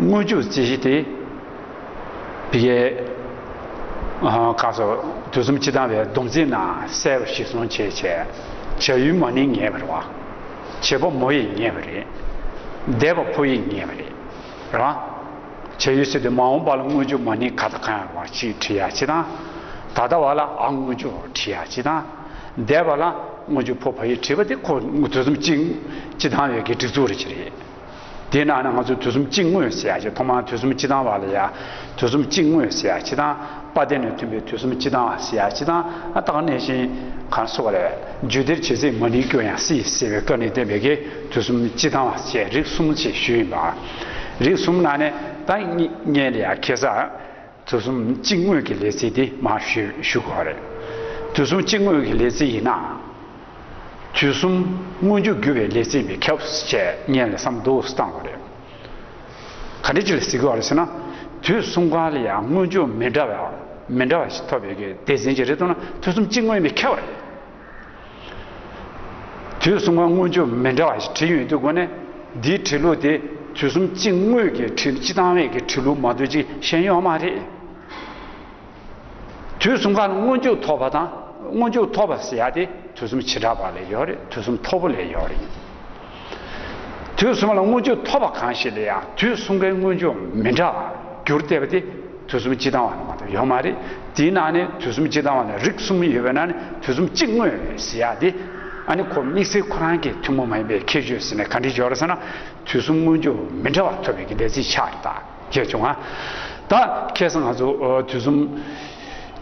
དངོས་བཅུད་རྩི་བཞི་སྟེ། བི་གའི། ཀ་སོགས་དུས་གསུམ་སྤྱི་དང་བའི་སྡོམ་རྩིས་ན་གསལ་བ་ཞིག་གསུངས་བྱས་བྱས་བྱ་ཡུལ་མ་ནི་ངེས་པར་བ། བྱེད་པོ་མོ་ཡིས་ངེས་པ་རེད། འདས་པ་ཕོ་ཡིས་ངེས་པ་རེད། རང། བྱ་ཡུལ་སྲིད་དུ་མ་འོངས་པ་ལ་དངོས་བཅུད་མ་ནི་ག་དང་ག་ཡང་བ་ཞིག་བྲི་ཡ་ཅི་དང། ད་ལྟ་བ་ལ་ཨ་དངོས་བཅུད་བ་བྲི་ཡ་ཅི་དང། འདས་པ་ལ་དངོས་བཅུད་ཕོ་བ་ཡིས་བྲིས་པ་དེ་ཁོ་དུས་གསུམ་སྤྱི་དང་བའི་གི་སྒྲིག་འཛུགས་རེ་བྱེད་རེད། དེས་ན་ང་ཚོས་དུས་གསུམ་གཅིག་དངོས་ཞེས་བྱ་ཞིང་ཐོག་མར་དུས་གསུམ་སྤྱི་དང་བ་ལ་ཡང་དུས་གསུམ་གཅིག་དངོས་ཞེས་བྱ་ཕྱི་དང་དཔའ་བརྟེན་ནས་མཐུན་པའི་དུས་གསུམ་སྤྱི་དང་བ་ཞེས་བྱ་ཕྱི་དང་དཔའ་དག་གནས་ཤིང་གང་གསོ་བ་ལས། རྒྱུད་སྡེར་བྱེད་ཚིག་མ་ནིང་སྐྱོ་ཡང་སྲིད་ཟེར་བའི་སྐབས་ནས་བསྟན་པའི་གེགས་དུས་གསུམ་སྤྱི་དང་བ་བཅས་རིགས་གསུམ་ཞེས་ཞུས་ཡིན་པ། རིགས་གསུམ་ནང་ནས་ད་སྙེད་ལ་ཡང་གེགས་སར། དུས་གསུམ་གཅིག་དངོས་ཀྱི་ལས་ཚིག་འདི་མ་ཞུས་ཞུ་དགོས་རེད། དུས་གསུམ་གཅིག་དངོས་ཀྱི་ལས་ཚིག་ཡིན་ན། དུས་གསུམ་མངོན་འགྱུར་རྒྱུ་བའི་ལས་ཚིག་མི་ཁྱབ་བཅས་ངས་ལས་སམ་དུས་སུ་བཏང་དགོས་རེད། ག་འདྲའི་ལས་ཚིག་དགོས་རེད་ཟེར་ན། དུས་གསུམ་གང་ལ་ཡང་མངོན་འགྱུར་མི་འདྲ་བ་མི་འདྲ་བ་ཞིག་ཐོབ་ཡོད་ཀྱི་སྡེ་ཚན་གྱི་རེ་དོགས་ན་དུས་གསུམ་གཅིག་དངོས་མི་ཁྱབ་རེད། དུས་གསུམ་གང་མངོན་ཆོས་མི་འདྲ་བ་ཞིག་བྲིས་ཡོད་དུས་དགོན་གནས་འདིའི་བྲིས་ལུགས་དེ་དུས་གསུམ་སྤྱི་དངོས་ཀྱི་བྲིས་སྤྱི་དང་བས་ཀྱི་བྲིས་ལུགས་མ་གཏོགས་ཅི་གཞན་ཡོད་མ་རེད། དུས་གསུམ་གང་མངོན་ཆོས་ཐོབ་པ་དང་མངོན་ཆོས་ཐོབ་པ་ཟེར་ཡ་དེ་དུས་གསུམ་བྱེ་བྲག་པ་ལས་ཡོད་རེད་དུས་གསུམ་ཐོབ་པོ་ལས་ཡོད་རེད། དུས་གསུམ་ལ་མངོན་བརྗོད་ཐོབ་པ་གང་ཞིག་ལ་ཡང་དུས་གསུམ་ཀའི་མངོན་བརྗོད་མི་འདྲ་བར་འགྱུར་བལྟས་པ་དེ་དུས་གསུམ་གཅིག་དང་བ་ནི་མ་གཏོགས་ཡོད་མ་རེད། དེའི་ནང་ནས་དུས་གསུམ་གཅིག་དང་བ་ནི་རིགས་གསུམ་ཡོད་པའི་ནང་ནས་དུས་གསུམ་གཅིག་དངོས་རེད་ཟེར་ཡག་དེ། ཨ་ནི་ཁོ་དམིགས་བསལ་ཁོ་རང་གི་ཐུན་མོང་མ་ཡིན་པའི་ཁྱད་ཆོས་ཟེར་ནས་ག་འདྲི་བྱོས་ར་ཟེར་ན་དུས་གསུམ་མངོན་བརྗོད་མི་འདྲ་བ་ཐོབ་པའི་གི་ལས་ཚིག་ཆགས་རེད་ད་རྒྱལ་བྱུང་ཨ། ད་ཁེས་ང་ཚོ་དུས་གསུམ་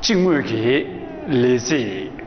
གཅིག་དངོས་ཀྱི་ལས་ཚིག།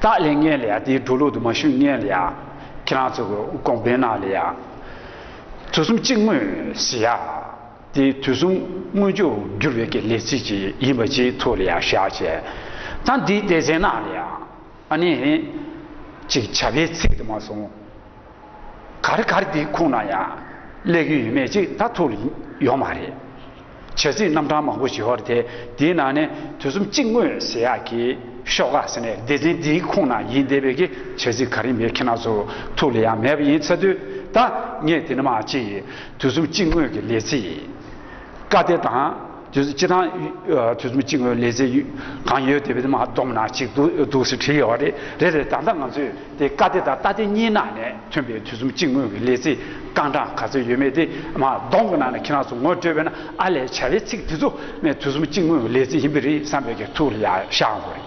སྟག་ལས་ངན་ལས་ཡ་དེའི་འགྲོ་ལུགས་དུ་མ་ཤུ་ངན་ལས་ཡ། ཁྱེད་རང་ཚོ་གི་ཀོང་བན་ནག་ལས་ཡ། དུས་གསུམ་གཅིག་དངོས་ཞེས་ཡ། དེ་དུས་གསུམ་དངོས་ཆོས་བསྒྱུར་བའི་ཀྱི་ལས་ཚིག་ཅིག་ཡིན་པ་ཅིག་ཐུགས་ལ་ཡ་བཞག་བྱས། ད་འདིའི་སྡེ་ཚན་ནག་ལས་ཡ། ཨ་ནི། ཅིག་བྱ་བའི་ཚིག་དུ་མ་སོང། གར་གར་དེའི་ཁུངས་ན་ཡང་གླེགས་ཡོད་མེད་ཅིག་ད་ཐུག་ཡོང་མ་རེད། བྱ་ཚིག་རྣམ་གྲངས་མང་པོ་བཞི་བར་དེ་དེའི་ནང་ནས་དུས་གསུམ་གཅིག་དངོས་ཟེར་ཡག་གི་ཤོག་ཀ་ཟེར་ནས་སྡེ་ཚན་དེའི་ཁུངས་ན་ཡིན་བསྡད་པའི་གི་བྱ་ཚིག་ག་རེ་མེད་ཁྱེད་རྣམས་ཚོ་ཐུག་ལས་ཡང་མེད་པ་ཡིན་ཚ་དུས་ད་ངས་དེ་ནི་མ་ཅིག་དུས་གསུམ་གཅིག་དངོས་ཀྱི་ལས་ཚིག་ཀ་དེ་དང། དུས་ཚོད་གཅིག་དང། དུས་ཚོད་གཅིག་ལས་ཚེ་གང་ཡོད་དེ་བས་མ་བསྡོམས་ན་གཅིག་འདུག་ཟེར་བྲིས་ཡོད་པ་རེད། རེད་རེད་ད་ལྟ་ང་ཚོས་དེ་བཀའ་སྡེ་དང་རྟ་སྡེ་གཉིས་ནང་ནས་ཐོན་པའི་དུས་ཚོད་གཅིག་སྔོན་གྱི་ལས་ཚེ་རྐང་གྲངས་ག་ཚོད་ཡོད་མེད་དེ་མ་བསྡོམས་གི་ནང་ནས་ཁྱེད་རང་ཚོ་ངོ་སྤྲོད་པས་ན་ཨ་ལས་བྱ་བའི་ཚིག་དེ་ཚོ་ནས་དུས་ཚོད་གཅིག་སྔོན་གྱི་ལས་ཚེ་ཡིན་པས་རེད་བསམ་པའི་གི་ཐུགས་ལ་ཡག་ཤག་འོང་བ་རེད།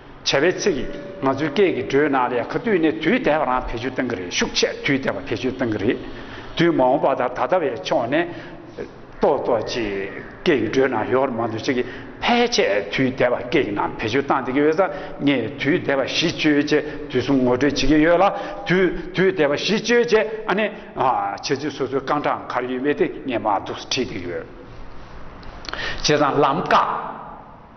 བྱ་བའི་ཚིག་གིས་ང་ཚོའི་སྐད་ཀྱི་འགྲོས་ནང་ལས་ཁ་བཏུས་ནས་དུས་དལ་བ་རང་བེད་སྤྱོད་གཏང་གི་རེད་ཤུགས་ཆེ་དུས་དལ་བ་བེད་སྤྱོད་གཏང་གི་རེད། དུས་མ་འོངས་པ་དང་ད་ལྟ་བའི་ཕྱོགས་ནས་གཏོགས་གཏོགས་ཀྱིས་སྐད་ཀྱི་འགྲོས་ནང་ཡོར་མང་དུ་བྱེད་ཀྱི་ཕལ་ཆེར་དུས་དལ་བ་སྐད་ཀྱི་ནང་བེད་སྤྱོད་གཏང་བསྡད་ཀྱི་ཡོད་ས་ངས་དུས་དལ་བ་གཞི་བཅོལ་ཆེད་དུས་གསུམ་ངོ་སྤྲོད་བྱེད་ཀྱི་ཡོད་ལ་དུས་དུས་དལ་བ་གཞི་བཅོལ་ཆེད་ཨ་ནི་བྱེད་ཚུལ་སོ་སོའི་རྐང་གྲངས་གར་ཡོད་མེད་དེ་ངས་མ་གཏོགས་སུ་བྲིས་བསྡད་ཀྱི་ཡོད། བྱས་ཙང་ལམ་ཀ།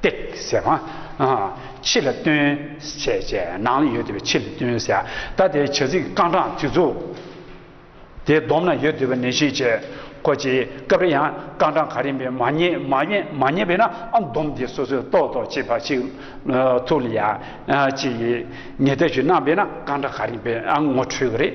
སྟེགས་ཟེར། ཕྱི་ལ་སྟོན། བྱས་བྱས། ནང་ལ་ཡོད་དུས་པའི་ཕྱི་ལ་སྟོན་ཟེར། ད་ལྟའི་བྱ་ཚིག་རྐང་གྲངས་དུས་ཚོད། དེ་བསྡོམས་ན་ཡོད་དུས་པ་ནན་བཤད་བྱས། ཁོ་ཅིའི་སྐབས་རེ་ཡང་རྐང་གྲངས་ག་རེ་མི་མ་རྙེད་མ་རྙེད་མ་རྙེད་པས་ན་ཨ་བསྡོམས་དེ་སོ་སོས་རྟོགས་རྟོགས་བྱེད་པ་ཞིག་ཐུགས་ལ་ཡ། ཅེས་ངེས་གཏད་ཞུས་གནང་བས་ན་རྐང་གྲངས་ག་རེ་འབེལ་ཨ་ངོ་འཕྲོད་ཀྱི་རེད།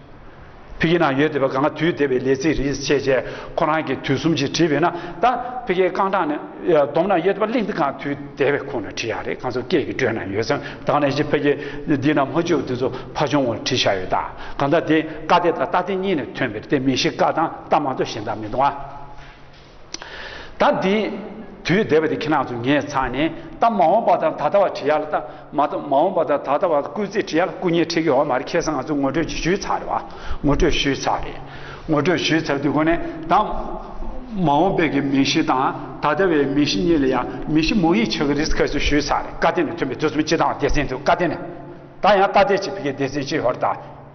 ཕི་ཁེ་ནང་ཡོད་དེ་བ་གང་ག་དུས་དེ་བའི་ལས་ཚིག་རིས་བཅད་བཅད་ཁོ་རང་གིས་དུས་གསུམ་གྱིས་བྲིས་བས་ན་ད་ཕི་ཁེ་རྐང་གྲངས་ནི་བསྡོམས་ན་ཡོད་དེ་བ་གླིང་འདི་གང་དུས་དེ་བའི་ཁོང་ནས་བྲིས་ཡག་རེད་གང་ཚོ་སྐད་ཀྱི་སྒྲོས་ན་ཡོད་ཚོན་ད་ག་ནས་ཀྱི་ཕི་ཁེ་འདི་ན་མ་བྱུག་དེ་ཚོ་ཕ་ཆུང་བ་བྲིས་ཤག་ཡོད་ད་ག་ད་དེ་ཀ་ཏེ་ད་རྟ་ཏེ་གཉིས་ནས་ཐོན་པའི་རྟའི་མིང་གཞི་ཀ་དང་རྟ་མང་དུ་ཞེ་འདང་མི་འདུག་ཨ། ད་དེ་དུས་སྡེ་པ་དེ་ཁྱེད་རང་ཚོ་ངས་ཚང་ནས་ད་མ་འོངས་པ་དང་ད་ལྟ་བར་བྲིས་ཡག་ལ་ད་མ་ད་མ་འོངས་པ་དང་ད་ལྟ་བར་སྐུལ་རྩིས་བྲིས་ཡག་ལ་སྐུ་ཉེ་ཁྲིད་ཀྱི་འོག་མ་རེད་ཁྱེད་ཚང་ང་ཚོ་ངོ་སྤྲོད་ཅིག་ཞུས་ཚར་རེད་བ་ངོ་སྤྲོད་ཞུས་ཚར་རེད་ངོ་སྤྲོད་ཞུས་ཚར་དུས་གོ་ནས་ད་མ་འོངས་པའི་གི་མི་ཤི་དང་ད་ལྟ་བའི་མི་ཤི་གཉིས་ལ་ཡང་མི་ཤི་མོ་ཡིས་ཆགས་ཀྱི་རེད་ཟེར་ཁ་ཞིག་ཞུས་ཚར་རེད་བཀའ་བསྟན་ནས་ཐོན་པའི་དུས་གསུམ་སྤྱི་དང་བདེ་ཆེན་དུ་བཀའ་བསྟན་ནས་ད་ཡང་ད་ལྟའི་ཆེད་ཕི་གའི་སྡེ་ཚན་སྤྱི་ཧོར་དང།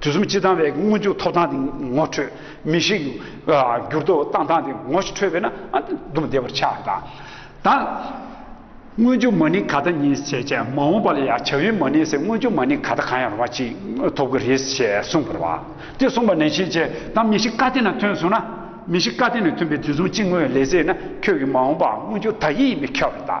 དུས་གསུམ་སྤྱི་དང་བའི་སྔོན་འཇུག་ཐོབ་ཐང་དེ་ངོ་འཕྲོད་མི་ཤེས། འགྱུར་ལྡོག་བཏང་ཐང་དེ་ངོ་འཕྲོད་པས་ན་སྡུག་བདེ་བར་ཆགས་དང། ད་སྔོན་འཇུག་མ་ནི་ག་ད་ཉིད་ཅེས་བྱ་མ་འོངས་པ་ལ་ཡང་བྱ་བའི་མ་ནི་སེ་སྔོན་འཇུག་མ་ནི་ག་ད་གང་ཡང་རུང་བ་ཅིག་ཐོབ་ཀྱི་རེད་ཅེས་གསུངས་པར་བ་དེ་གསུངས་པ་ནས་ཤེས་བྱའི་དང་མི་ཤི་ཀ་དེ་ན་ཐོན་སོང་ན་མི་ཤི་ཀ་དེ་ན་ཐོན་པའི་དུས་གསུམ་སྤྱི་དངོས་ལས་ཟད་ན་ཁྱོད་ཀྱི་མ་འོངས་པའང་སྔོན་འཇུག་དག་ཡིད་ཡིན་པས་ཁྱབ་བ་དང།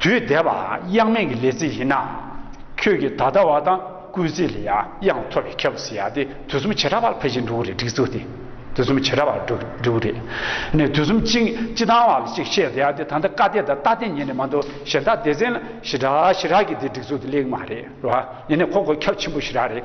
དུས་འདས་པའང་དབྱངས་མེད་ཀྱི་ལས་ཚིག་ཡིན་ནམ། ཁྱོད་ཀྱིས་ད་ལྟ་བ་དང་སྐུལ་ཚིག་ལ་ཡང་དབྱངས་ཐོབ་པའི་ཁྱད་པར་ཟེར་ཡ་དེ་དུས་གསུམ་བྱེ་བྲག་པར་འཕེལ་ཞིང་འགྲོ་བ་རེད་སྒྲིག་འཛུགས་དེ་དུས་གསུམ་བྱེ་བྲག་པར་འགྲོ་གི་རེད། ནས་དུས་གསུམ་གཅིག་སྤྱི་དང་བ་ལ་གཅིག་བཤད་ཟེར་ཡ་དེ་ད་ལྟ་ཀ་སྡེ་དང་རྟ་སྡེ་གཉིས་ནས་མ་འདུག་གཞན་དག་སྡེ་ཚན་ལ་ཞི་དྲག་ཞི་དྲག་གིས་དེ་སྒྲིག་འཛུགས་དེ་གླེང་གི་མ་རེད་རེད་བ། ཡིན་ནས་ཁོ་ཁོ་ཁྱབ་ཆེན་པོ་ཞི་དྲག་རེད།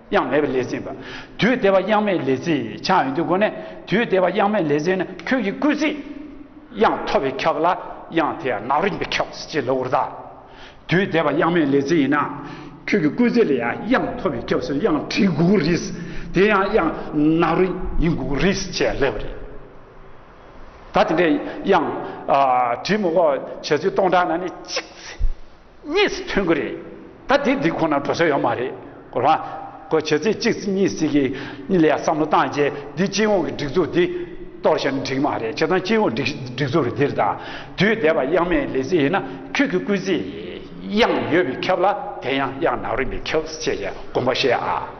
དབྱངས་མེད་པའི་ལས་ཚིག་འབའ། དུས་དེ་བ་དབྱངས་མེད་ལས་ཚིག་འཆང་ཡོད་དུས་སྒོ་ནས་དུས་དེ་བ་དབྱངས་མེད་ལས་ཚིག་ནི་ཁྱོད་ཀྱི་སྐུལ་ཚིག། དབྱངས་ཐོབ་པའི་ཁྱབ་ལ་དབྱངས་དེ་ཡང་ནག་རིག་པའི་ཁྱབ་ཅེས་ལོ་ཀུར་དང། དུས་དེ་བ་དབྱངས་མེད་ལས་ཚིག་ཡིན་ན། ཁྱོད་ཀྱི་སྐུལ་ཚིག་ལ་ཡང་དབྱངས་ཐོབ་པའི་ཁྱབ་སུ་དབྱངས་བྲིས་དགོས་ཀྱི་རེད། དེ་ཡང་དབྱངས་ནག་རིག་ཡིན་དགོས་ཀྱི་རེད་ཅེས་ལབ་པ་རེད། ད་དེ་འདྲའི་དབྱངས་བྲིས་མི་དབོ་བྱེད་ཚུལ་སྟོང་ཕྲག་ན་ནི་གཅིག། གཉིས་སུ་ཐོན་གི་རེད་ད་དེ་དེ་ཁོ་ན་འགྲོ་ས་ཡོད་མ་རེད་གོ་རང་གོ་བྱེད་ཚེ་གཅིག་གཉིས་སྲིད་གི་གཉིས་ལས་བསམ་བློ་བཏང་རྗེས་འདི་སྤྱི་ཡོངས་ཀྱི་སྒྲིག་འཛུགས་འདི་གཏོར་ཞིང་འགྲིག་མ་རེད་བྱེད་དང་སྤྱི་ཡོངས་སྒྲིག་སྒྲིག་འཛུགས་རེད་འདིར་ད་དུས་བསྡད་པ་དབྱངས་མེད་ལས་ཚེ་ཡིན་ན་ཁྱོད་ཀྱི་སྐུལ་ཚེ་དབྱངས་ཡོད་པའི་ཁབ་ལ་དེ་ཡང་དབྱངས་ནག་རིང་པའི་ཁབ་ཅེས་བསྒོམ་པ་ཤེས་ཨ།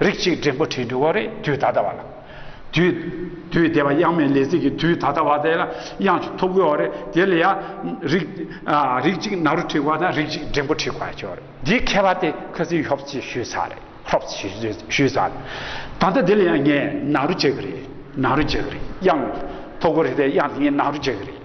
རིགས་གཅིག་འབྲིང་པོ་བྲིས་འདུག་གོ་རེད་དུས་ད་ལྟ་བ་ལ། དུས། དུས་དེ་བ་དབྱངས་མེད་ལས་ཚིག་གི་དུས་ད་ལྟ་བ་དེ་ལ་དབྱངས་ཞིག་ཐོབ་དགོས་བ་རེད་དེ་ལ་ཡ། རིགས། རིགས་གཅིག་ནག་རུ་བྲིས་བ་དང་རིགས་གཅིག་འབྲིང་པོ་བྲིས་བ་ཅོ་རེད་འདིའི་མཁས་པ་དེ་ཁ་ཚིག་ཤོབ་ཚིག་ཞུས་ཚར་རེད་ཤོབ་ཚིག་ཞུས་ཚར་རེད། ད་ལྟ་དེ་ལ་ཡང་ངས་ནག་རུ་བྱེད་གི་རེད་ནག་རུ་བྱེད་གི་རེད་དབྱངས། ཐོབ་དགོས་རེད་དེ་དབྱངས་དེ་ངས་ནག་རུ་བྱེད་གི་རེད།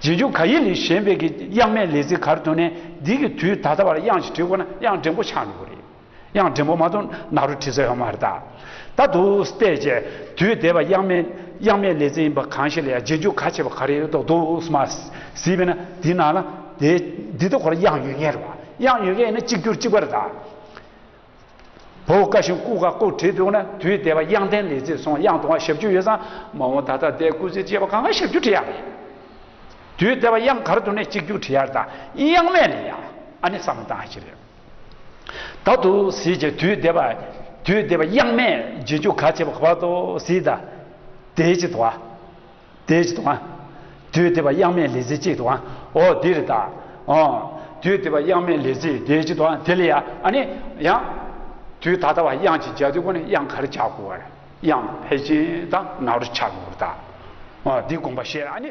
རྗེས་འཇུག་ག་ཡེ་ལི་གཞན་ཕལ་གྱི་དབྱངས་མེད་ལས་ཚིག་གར་དོན་ནས་འདི་གི་དུས་ད་ལྟ་བར་དབྱངས་ཞིག་བྲིས་དགོས་ན་དབྱངས་འདྲེན་པོ་ཆགས་འགྲོ་གི་རེད། དབྱངས་འདྲེན་པོ་མ་གཏོགས་ནག་རུ་བྲིས་ས་ཡོད་མ་རེད་ད། ད་དུ་ལྟས་བཅས་དུས་འདས་པ་དབྱངས་མེད་དབྱངས་མེད་ལས་ཚིག་ཡིན་པ་གང་ཞིག་ལ་ཡང་རྗེས་འཇུག་ག་བྱས་པ་ག་རེ་ཡོད་མདོག་མདོག་མ་ཟིས་པས་ན་འདི་ནང་ན་འདི་འདི་ལྟ་གོ་ལ་དབྱངས་ཡོད་ངེས་རེད་བ། དབྱངས་ཡོད་མཁན་ཡིན་ན་གཅིག་གྱུར་གཅིག་པ་རེད་ད། བོད་བཀའ་བཞིན་སྐུ་བཀའ་བཀོད་བྲིས་འདུག་ན་དུས་དེ་བ་དབྱངས་ལྡན་ལས་ཚེ་སོང་དབྱངས་དུང་བ་ཞབས་ཅུ་ཡོད་ཙང་མ་འོངས་ད་ལྟ་བསྡད་སྐུ་ཚེ་བཅད་པ་གང་ག་ཞབས་ཅུ་བྲི་ཡག་རེད། དུས་དེ་བ་དབྱངས་གར་དུང་ནས་གཅིག་རྒྱུགས་བྲི་ཡག་དང་དབྱངས་མེད་ལས་ཡག་ཨ་ནི་བསམ་སྟངས་ཤིག་རེད། ད་དུ་ཟིག་ཅེས་དུས་དེ་བ་དུས་དེ་བ་དབྱངས་མེད་རྗེས་འཇུག་ག་བྱས་པ་ག་བ་དོ་ཟིག་ད་དེའི་ཅི་དོ་ཨ། དེ་ཅི་དང། དུས་དེ་བ་དབྱངས་མེད་ལས་ཚིག་གཅིག་དང། འོ་འདི་རེ་ད། ཨོ། དུས་དེ་བ་དབྱངས་མེད་ལས་ཚིག་དེ་ཅི་དང་དེ་ལ་ཡ་ཨ་ནི་ཡང། དུས་ད་ལྟ་བ་དབྱངས་ཀྱི་སྦྱར་དུས་ཀུན་ནས་དབྱངས་ག་རེ་བྱ་དགོས་བ་རེད་དབྱངས་ཕལ་ཆེན་དང་ནག་རུ་ཆགས་དགོས་བ་རེད་ད། འོ་འདི་དགོངས་པ་བཤད་ཨ་ནི།